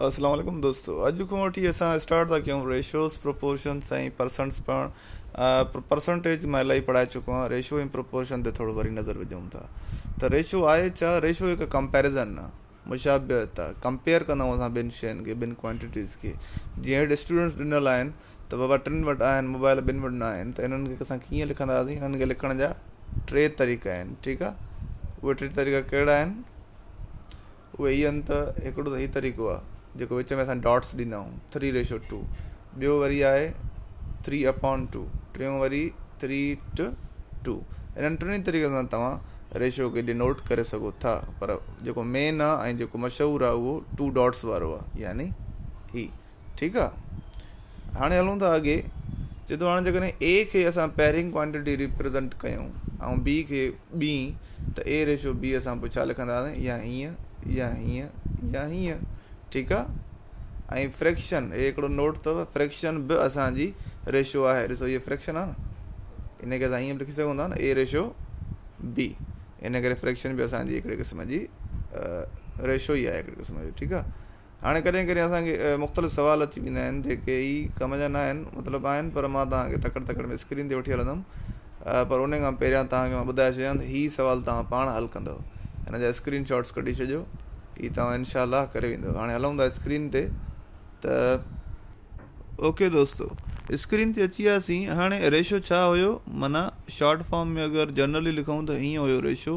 السلام عليڪم دوستو اڄ کان وٺي اسان اسٽارٽ ٿا ڪيون ريشوز پروپورشنز ۽ پرسنٽس پڙهڻ پرسنٽيج مان الائي پڙهائي چڪو آهيان ريشو ۽ پروپورشن تي ٿورو وري نظر وجهون ٿا ته ريشو آهي ڇا ريشو هڪ ڪمپيرزن آهي مشابهت آهي ڪمپيئر ڪندا آهيون اسان ٻن شين کي ٻن ڪوانٽيٽيز کي جيئن هيٺ اسٽوڊنٽس ڏنل آهن ته بابا ٽن وٽ آهن موبائل ٻن وٽ نه آهن ته انهن کي اسان ڪيئن لکنداسين انهن کي لکڻ جا ٽي طريقا آهن ٺيڪ آهي اهي ٽي طريقا ڪهڙا آهن اهي هي آهن ته هڪڙو ته هي طريقو آهي جيڪو وچ ۾ اسان ڊاٽس ڏيندا آهيون ٿري ريشو ٽو ٻيو وري آهي ٿري اپون ٽو ٽيون وري ٿري ٽ ٽو انهن ٽنهي طريقن سان توهان ريشو کي ڊينوٽ ڪري سگهو ٿا پر جيڪو مين آهي ۽ جيڪو مشهور آهي اهو ٽو ڊاٽس وارو آهي يعني هي ٺيڪ آ هاڻي هلون ٿا اڳي جي تو هاڻي جيڪڏهن اي کي اسان پهرين ڪوانٽيٽي ريپريزنٽ ڪيون ۽ بي کي بي ته اي ريشو بي اسان پوء ڇا لکنداسين يا هيئن يا هيئن يا هيئن ٺيڪ آ ۽ فريڪشن اي هڪڙو نوٽ اٿو فريڪشن به اسان جي ريشو آهي ڏسو هي فريڪشن آ نه ان کي اسان ائين لکي سگهون ٿا نه اي ريشو بي ان ڪري فريڪشن به اسان جي هڪڙي قسم جي ريشو ئي آهي هڪڙي قسم جو ٺيڪ آ هاڻي ڪڏهن ڪڏهن اسان کي مختلف سوال اچي ويندا آهن جيڪي هي ڪم جا ناهن مطلب آهن پر مان توهان کي تڪڙ تڪڙ ۾ اسڪرين تي وٺي هلندم پر ان کان پهريان توهان کي مان ٻڌائي ڇڏيان ته هي سوال توهان پاڻ حل ڪندو هن جا اسڪرين شاٽس ڪڍي ڇڏيو هي توهان انشاء الله ڪري ويندو هاڻي هلون ٿا اسڪرين تي ته اوڪي دوستو اسڪرين تي اچي وياسين هاڻي ريشو ڇا هيو معنيٰ شارٽ فارم ۾ اگر جنرلي لکون ته هيئن هيو ريشو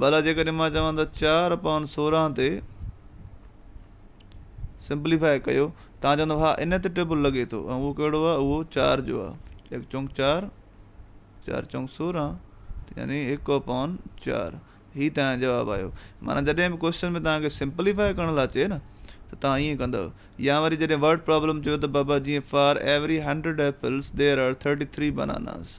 ڀلا جيڪڏهن مان چوان ته چار اپان سورهن تي سمپليفائي ڪيو تان چوندو ها ان تي ٽيبل لڳي ٿو ۽ اهو ڪهڙو آهي اهو چار جو آهي هڪ چونڪ چار چار چونڪ سورهن يعني هڪ اپان چار هي تنهنجو جواب آيو معنيٰ جڏهن به ڪوشچن ۾ توهان کي سمپليفائي ڪرڻ لاء چئي نه ته توهان ائين ڪندو يا وري جڏهن ورڊ پرابلم چيو ته بابا جيئن for every hundred apples there are thirty three bananas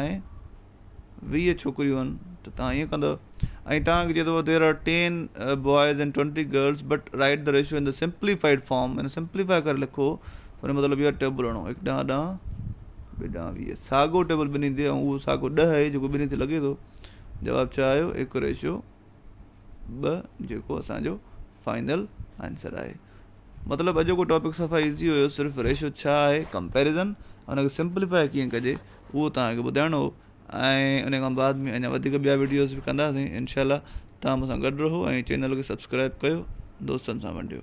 ۽ ويهه ڇوڪريون آهن ته تهان ائين ڪندؤ ۽ تهان کي چئي ٿو there are ten boys and twenty girls but write the ratio in the simplified form ان سمپليفائي ڪري لکو ان جو مطلب اهو آهي ٽيبل هڻو هڪ ڏانهن ڏانهن ٻئي ڏانهن ويهه ساڳو ٽيبل ٻنهي تي ۽ اهو ساڳو ڏهه اهي جيڪو ٻنهي تي لڳي ٿو جواب ڇا آيو هڪ ريشو ٻه جيڪو اسان جو فائنل آنسر آهي مطلب اڄوڪو ٽاپڪ صفا ايزي هيو صرف ريشو ڇا آهي ڪمپيرزن ان کي سمپليفائي کي ڪجي اهو توهانکي ٻڌائڻو هو ۽ ان کان بعد ۾ اڃا وڌيڪ ٻيا ويڊيوز به ڪنداسين انشاء الله توهان مون سان گڏ رهو ۽ چينل کي سبسڪرائب ڪيو دوستن سان ونڊيو